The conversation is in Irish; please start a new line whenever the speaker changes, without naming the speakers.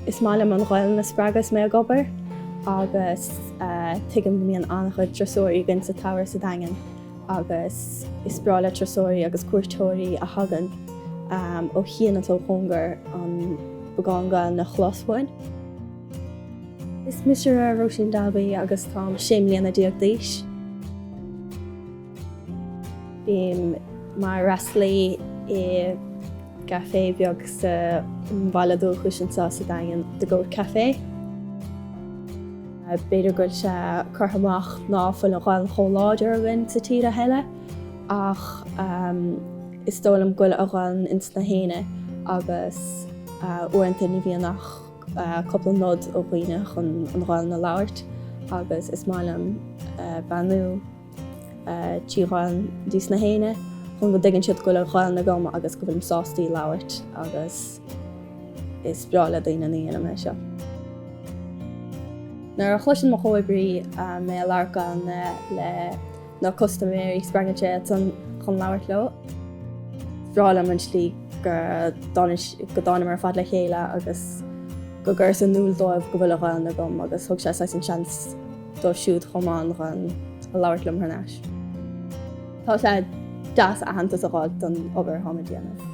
Is maith liom an Ghaelainn a spreagadh is mé ag obair agus tuigim go mbíonn ana-chuid turasóirí againn sa tsamhradh sa Daingean agus is breá le turasóirí agus cuairteoirí a thagann ó chian agus ó chóngar an beagán Gaelainn a chlos uainn. Is mise Róisín Dalby agus táim sé mbliana déag d'aois. Bím mar fhreastalaí i gcaifé bheag sa bhaile dúchais agam anseo sa Daingean, The Goat Café. B'fhéidir go bhfuil sé curtha amach ná fuil an Ghaelainn chomh láidir againn sa tír a thuilleadh ach is dóigh liom go bhfuil an Ghaelainn ins gach éinne agus uaireanta ní bhíonn ach cúpla nod ó dhaoine chun an Ghaelainn a labhairt agus is maith liom beannú trí Ghaelainn dos na héinne chun go dtuigeann siad go bhfuil an Ghaelainn agam agus go bhfuilim sásta í a labhairt agus is breá le daoine nuair a dheinim é seo. Nuair a chloiseann mo chomhoibrí mé ag labhairt Gaelainn le na custaiméirí spreagann sé iadsan chun labhairt leo. Is breá liom an tslí go dtánamar ar fad le chéile agus go gcuireas in iúl dóibh go bhfuil an Ghaelainn agam agus thug sé saghas an seans dóibh siúd chomh maith chun í a labhairt liom thar n-ais. Tá sé deas aitheantas a fháil don obair atáim ag déanamh.